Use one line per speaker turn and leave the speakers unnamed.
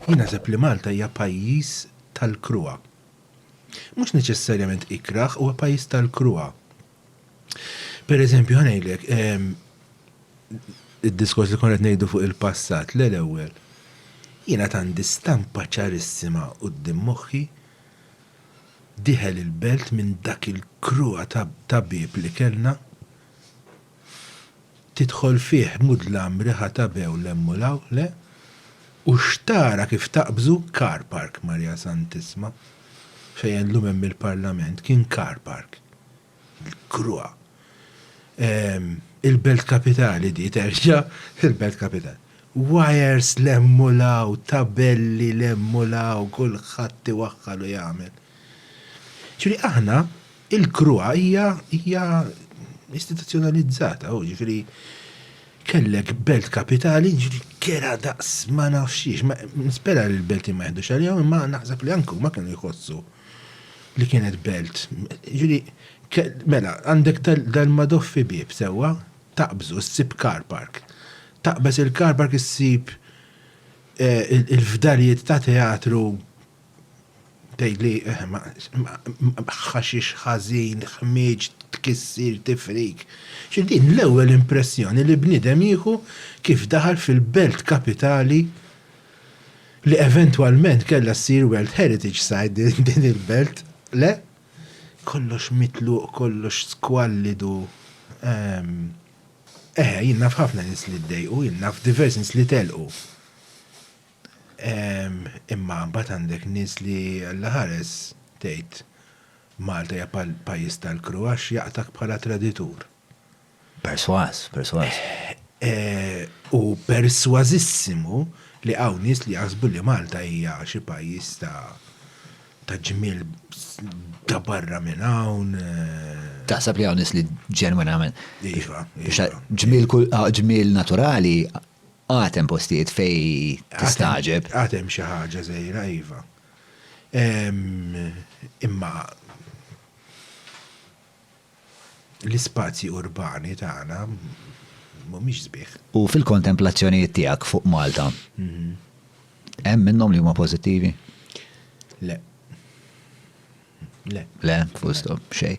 Jien naħseb li Malta hija pajjiż tal-kruha. Mhux neċessarjament ikrah, huwa pajjiż tal-kruha. Pereżempju, ħa ngħidlek, id-diskors li konna qed ngħidu fuq il-passat, le l-ewwel, jien għad għandi stampa ċarissima quddiem moħħi, dieħel il-belt minn dak il-kruha ta' bieb li kellna, Tidħol fih mudlam riħa ta' bew 'l hemm u 'l hawn, le? U x'tara kif taqbżu car park Marija Santissma! Fejn llum hemm il-Parlament kien car park. L-kruha! Il-Belt Kapitali di terġa' il-Belt Kapitali. Wires 'l hemm u 'l hawn, tabelli 'l hemm u 'l hawn, kulħadd iwaħħal u jagħmel. Ġifieri aħna Il-CRUA hija hija istituzzjonalizzata, jiġifieri kellek belt kapitali, jiġifieri kera daqs ma nafx xiex. Nispera li l-Beltin ma jeħdux għalihom imma naħseb li anke huma kienu jħossu li kienet belt. Jiġifieri mela għandek dal-Madoffi bieb sewwa, taqbżu ssib car park. Taqbeż il-car park issib il-fdalijiet ta' teatru Tgħidli ħaxix ħażin, ħmieġ, tkissir, tifrik. Xi din l-ewwel impressjoni li bniedem jieħu kif daħal fil-belt kapitali li eventwalment kellha ssir World Heritage Site din il-belt, le? Kollox mitluq, kollox skwallidu. Eħe, jien naf ħafna nies li ddejqu, jien naf diversi nies li telqu. Imma mbagħad għandek nies li Alla ħares tgħid Malta hija pajjiż tal-kru għax jaqtak bħala traditur. Persważ,
persważ.
U persważissimu li hawn nies li jaħsbu li Malta hija xi pajjiż ta' ta' ġmiel ta' barra minn hawn. Taħseb
li hawn nies li ġenwinament. Iva.
iva.
Ġmiel naturali Għad hemm postijiet fejn tistagħġeb. Għad hemm xi ħaġa
żgħira iva. Imma l-ispazji urbani tagħna mhumiex sbieħ. U fil-kontemplazzjonijiet tiegħek
fuq Malta, hemm minnhom li huma pożittivi? Le. Le. Le, full stop, xejn.